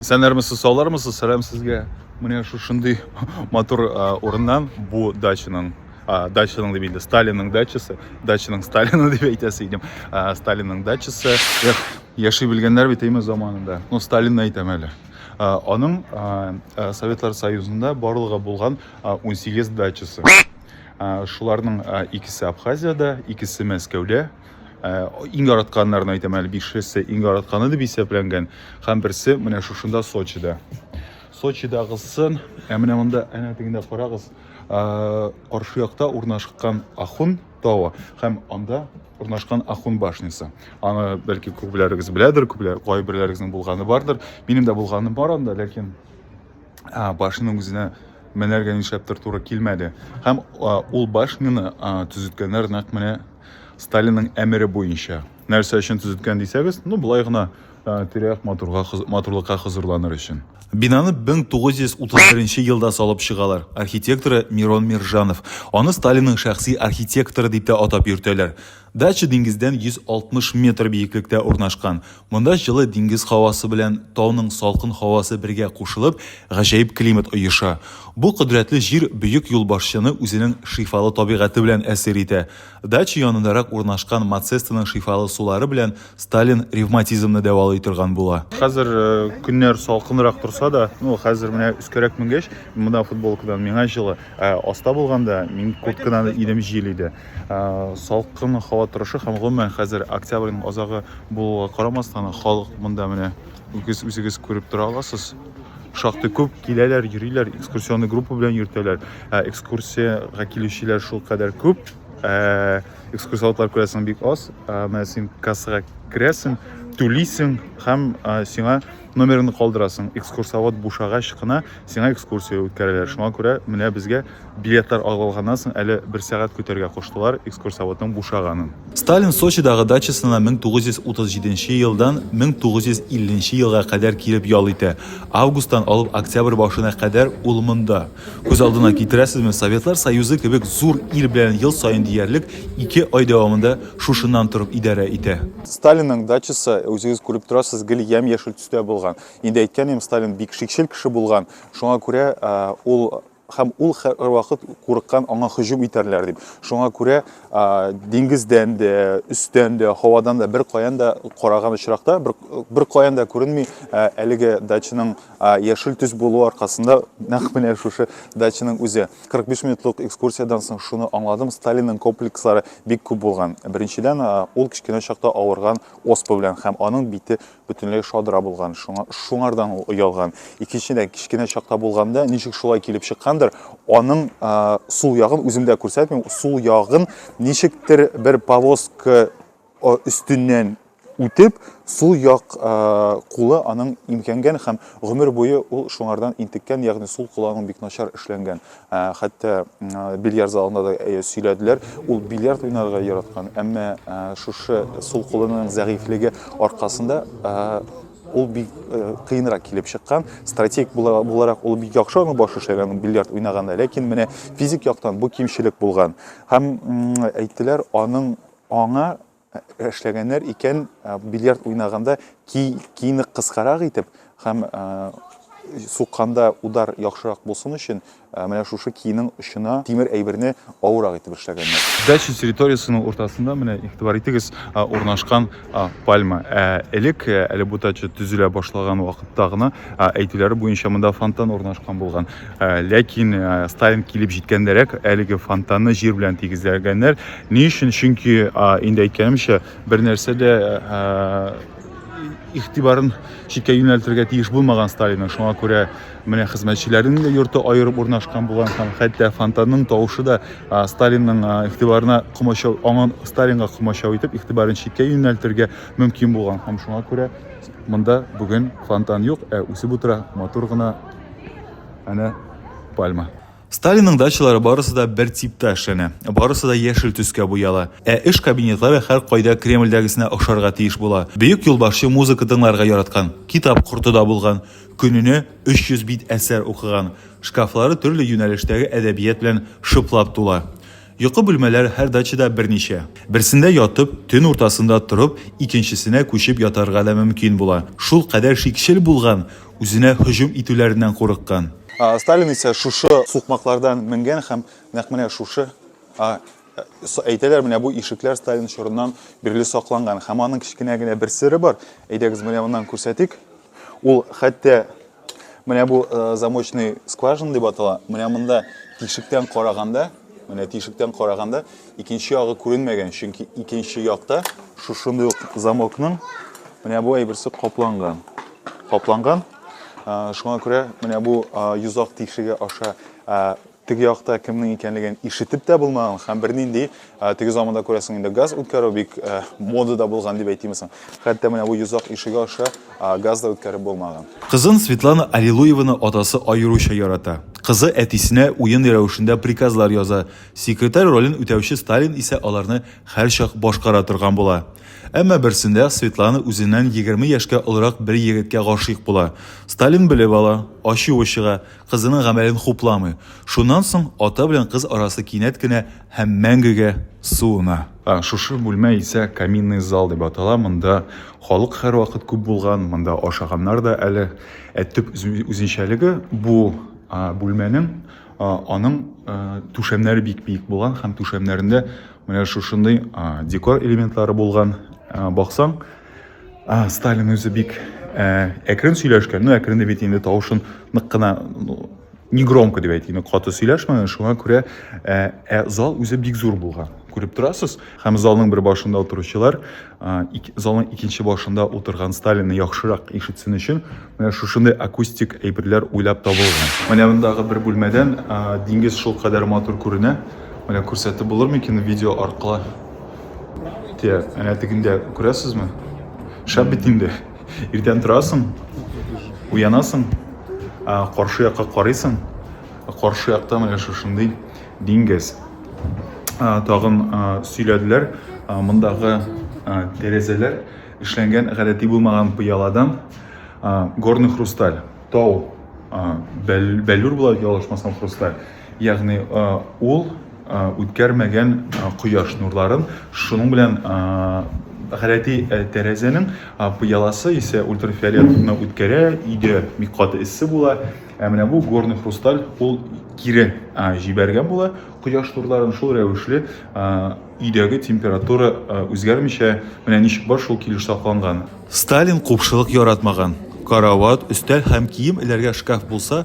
Исәннәрмесез, саулармысыз, сәлам сезгә. Менә шушындый матур урыннан бу дачаның дачаның дип инде Сталинның дачасы, дачаның Сталины дип әйтәсе идем. Сталинның дачасы. Эх, яши белгәннәр бит әйме заманында. Ну, Сталинны әйтәм әле. Аның Советлар Союзында барлыгы булган 18 дачасы. Шуларның икесе Абхазиядә, икесе Мәскәүдә, Иң яратканнарны әйтәм әле, бишесе иң яратканы дип исәпләнгән. Һәм берсе менә шушында Сочида. Сочидагысын, ә менә монда әнә тегендә карагыз, каршы якта урнашкан Ахун тавы һәм анда урнашкан Ахун башнясы. Аны бәлки күпләрегез беләдер, күпләр кайберләрегезнең булганы бардыр. Минем дә булганым бар анда, ләкин ә, башның үзенә менәргә нишләптер туры килмәде. Һәм ә, ул башняны ә, төзеткәннәр нәкъ менә Сталинның әмере буенча. Нәрсә өчен төзеткән дисәгез, ну былай гына ә, тирә-як матурга, хыз- матурлыкка хозурланыр өчен. Бинаны 1931 елда салып чыгалар. Архитекторы Мирон Миржанов. Аны Сталинның шәхси архитекторы дип тә атап йөртәләр. Дача диңгездән 160 метр биеклектә урнашкан. Монда җылы диңгез һавасы белән тауның салкын һавасы бергә кушылып, гаҗәеп климат оеша. Бу кодрәтле җир бөек юлбашчыны үзенең шифалы табигате белән әсир итә. Дача янындарак урнашкан Мацестаның шифалы сулары белән Сталин ревматизмны дәвалый торган була. Хәзер көннәр салкынрак торса да, ну, хәзер менә өскәрәк менгәч, монда футболкадан миңа җылы, ә аста булганда мин курткадан идем, җил иде. салкын һава торышы һәм гомумән хәзер октябрьнең азагы булуга карамастан халык монда менә үгез үзегез күреп тора аласыз шактый күп киләләр йөриләр экскурсионный группа белән йөртәләр ә экскурсиягә килүчеләр шул кадәр күп ә, экскурсоводлар күрәсең бик аз ә, менә син кассага керәсең түлисең һәм ә, сиңа Номерыңны калдырасың, экскурсовод бушагач кына сиңа экскурсия үткәрәләр. Шуңа күрә менә безгә билетлар алып алганнан соң әле бер сәгать көтәргә куштылар экскурсоводның бушаганын. Сталин Сочидагы дачасына 1937 елдан 1950 елга кадәр килеп ял итә. Августтан алып октябрь башына кадәр ул монда. Күз алдына китерәсезме, Советлар Союзы кебек зур ил белән ел саен диярлек ике ай дәвамында шушыннан торып идарә итә. Сталинның дачасы, үзегез күреп торасыз, гел ямь-яшел төстә булган. Инде әйткән идем, Сталин бик шикчел кеше булган. Шуңа күрә ул һәм ул һәрвакыт курыккан аңа һөҗүм итәрләр дип. Шуңа күрә диңгездән дә, өстән дә, һавадан да бер каян да караган очракта бер, бер каян да күренми әлеге дачаның Яшел төс булуы аркасында нәкъ менә шушы дачаның үзе. 45 минутлык экскурсиядән соң шуны аңладым, Сталинның комплекслары бик күп булган. Беренчедән, ул кечкенә чакта авырган оспа белән һәм аның бите бөтенләй шадра булган, шуңа шуңардан ул оялган. Икенчедән, кечкенә чакта булганда, ничек шулай килеп чыккандыр, аның сул ягын үзем дә күрсәтмим, сул ягын ничектер бер повозка өстеннән үтеп, сул як кулы аның имкәнгән һәм гомер буе ул шуңардан интеккән, ягъни сул кулы аның бик начар эшләнгән. Хәтта бильярд залында да сөйләделәр, ул бильярд уйнарга яраткан, әмма шушы сул кулының зәгыйфьлеге аркасында ул бик кыенрак килеп чыккан. Стратег буларак ул бик яхшы аның башы эшләгән бильярд уйнаганда, ләкин менә физик яктан бу кимчелек булган. Һәм әйттеләр, аның Аңа эшләгәннәр икән, бильярд уйнаганда кийне кыскарак итеп һәм сукканда удар яхшырак булсын өчен, менә шушы кийнең очына тимер әйберне авыррак итеп эшләгәннәр. Дача территориясенең уртасында, менә игътибар итегез, урнашкан пальма. Ә элек, әле бу дача төзелә башлаган вакытта гына, әйтүләре буенча, монда фонтан урнашкан булган. Ә, ләкин ә, Сталин килеп җиткәндәрәк әлеге фонтанны җир белән тигезләгәннәр. Ни өчен? Чөнки ә, инде әйткәнемчә, бер нәрсә дә ә, игътибарын читкә юнәлтергә тиеш булмаган Сталинның. Шуңа күрә менә хезмәтчеләрнең дә йорты аерып урнашкан булган һәм хәтта фонтанның тавышы да ә, Сталинның ә, игътибарына комачау, аңын Сталинга комачау итеп, игътибарын читкә юнәлтергә мөмкин булган. Һәм шуңа күрә монда бүген фонтан юк, ә үсеп утыра матур гына Әнә пальма. Сталинның дачалары барысы да бер типта эшләнә, барысы да яшел төскә буяла. Ә эш кабинетлары һәркайда Кремльдәгесенә охшарга тиеш була. Бөек юлбашчы музыка тыңларга яраткан, китап корты да булган, көненә 300 бит әсәр укыган. Шкафлары төрле юнәлештәге әдәбият белән шыплап тула. Йокы бүлмәләр һәр дачада берничә. Берсендә ятып, төн уртасында торып, икенчесенә күчеп ятарга да мөмкин була. Шул кадәр шикчел булган, үзенә һөҗүм итүләреннән курыккан. Сталин исә шушы сукмаклардан менгән һәм нәкъ менә шушы, әйтәләр, менә бу ишекләр Сталин чорыннан бирле сакланган. Һәм аның кечкенә генә бер сере бар. Әйдәгез, менә моннан күрсәтик. Ул хәтта менә бу э, замочный скважина дип атала. Менә монда тишектән караганда, менә тишектән караганда икенче ягы күренмәгән, чөнки икенче якта шушындый ук замокның менә бу әйберсе капланган. Капланган. Э, шуңа күрә менә бу э, йозак тишеге аша Теге якта кемнең икәнлеген ишетеп тә булмаган һәм бернинди теге заманда күрәсең инде газ үткәрү бик модада булган дип әйтимме соң. Хәтта менә бу йозак ишеге аша газ да үткәреп булмаган. Кызын Светлана Аллилуеваны атасы аеруча ярата. Кызы әтисенә уен рәвешендә приказлар яза, секретарь ролен үтәүче Сталин исә аларны һәрчак башкара торган була. Әмма берсендә Светлана үзеннән егерме яшькә олырак бер егеткә гашыйк була. Сталин белеп ала, ачуы чыга, Кызының гамәлен хупламый. Шуннан соң ата белән кыз арасы кинәт кенә һәм мәңгегә суына. Шушы бүлмә исә каминный зал дип атала, монда халык һәрвакыт күп булган, монда ашаганнар да әле. Ә төп үзенчәлеге, бу бүлмәнең, аның түшәмнәре бик биек булган һәм түшәмнәрендә менә шушындый декор элементлары булган. Баксаң, А, Сталин үзе бик ә, әкрен сөйләшкән, ну әкрен дип әйтим, тавышын нык кына ну, не громко дип әйтим, каты сөйләшмәгән, шуңа күрә ә, ә зал үзе бик зур булган. Күреп торасыз, һәм залның бер башында утыручылар, ә, ик, залның икенче башында утырган Сталинны яхшырак ишетсен өчен, менә шушындый акустик әйберләр уйлап табылган. Менә мондагы бер бүлмәдән ә, диңгез шул кадәр матур күренә. Менә күрсәтеп булыр микән видео аркылы? Тия, әнә тегендә күрәсезме? Шәп бит инде. Иртән торасың, уянасың, каршы якка карыйсың, каршы якта менә шушындый диңгез. Тагын сөйләделәр, мондагы тәрәзәләр эшләнгән гадәти булмаган пыяладан горный хрусталь, тау, бәллүр була, ялгышмасам, хрусталь. Ягъни ул үткәрмәгән кояш нурларын, шуның белән гадәти тәрәзәнең пыяласы исә ультрафиолетны үткәрә, өйдә бик каты эссе була. Ә менә бу горный хрусталь ул кире җибәргән була кояш нурларын, шул рәвешле өйдәге температура үзгәрмичә менә ничек бар шул килеш сакланган. Сталин купшылык яратмаган. Карават, өстәл һәм кием эләргә шкаф булса,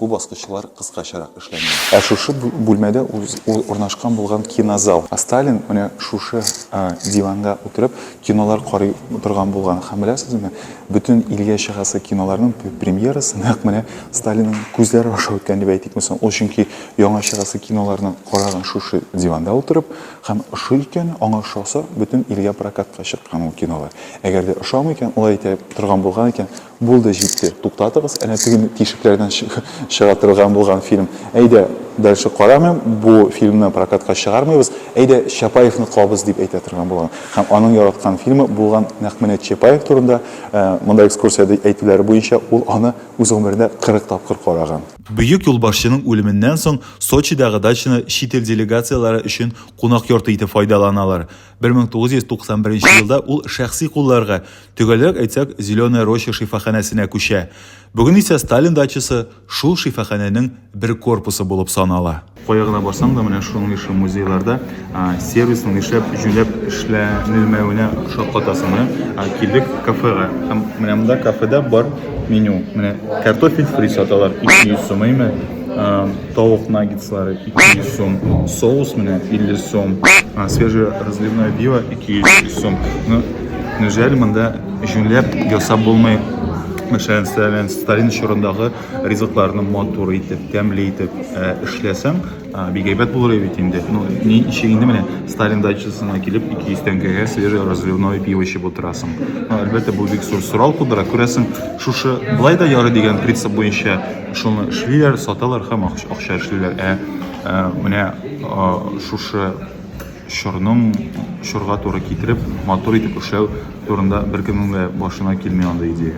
Бу баскычлар кыскачарак эшләнгән. Ә шушы бүлмәдә урнашкан булган кинозал. Сталин менә шушы диванга утырып кинолар карый торган булган. Һәм беләсезме, бөтен илгә чыгасы киноларның премьерасы нәкъ менә Сталинның күзләре аша үткән дип әйтик мисал. Ул чөнки яңа чыгасы киноларны караган шушы диванда утырып һәм ошый икән, аңа ошаса, бөтен илгә прокатка чыккан ул кинолар. Әгәр дә ошамый икән, алай әйтә торган булган икән, Булды, җитте. Туктатыгыз, әнә теге тишекләрдән чыга торган булган фильм. Әйдә, дальше карамыйм, бу фильмны прокатка чыгармыйбыз. Әйдә, Чапаевны куабыз, дип әйтә торган булган. Һәм аның яраткан фильмы булган нәкъ менә Чапаев турында. Ә, монда экскурсиядә әйтүләре буенча, ул аны үз гомерендә 40 тапкыр караган. Бөек юлбашчының үлеменнән соң Сочидагы дачаны чит ил делегацияләре өчен кунак йорты итеп файдаланалар. 1991 елда ул шәхси кулларга, төгәлрәк әйтсәк, Зеленая роща шифаханәсенә күчә. Бүген исә Сталин дачасы шул шифаханәнең бер корпусы булып санала. Кая гына барсаң да, менә шуның ише музейларда сервисның нишләп җүләп эшләнелмәвенә шаккатасың. Менә килдек кафега. Һәм менә монда кафеда бар меню. Менә картофель фри саталар 200 сум, әйме? Тавык наггетслары 200 сум, соус менә 50 сум, свежий разливное пиво 200 сум. Ну, неужели монда җүнләп ясап булмый? Мәшәлән, Сталин, Сталин чорындагы ризыкларны матур итеп, тәмле итеп ә, эшләсәң, ә, бик әйбәт булыр бит инде. Ну, ни өчен инде менә Сталин дачасына килеп 200 тәңкәгә свежий разливное пиво эчеп утырасың. Ну, әлбәттә, бу бик зур сорау тудыра. Күрәсең, шушы былай да ярый дигән принцип буенча Шуны эшлиләр, саталар һәм акча эшлиләр. Ә менә шушы чорның чорга туры китереп, матур итеп эшләү турында беркемнең дә башына килми андый идея.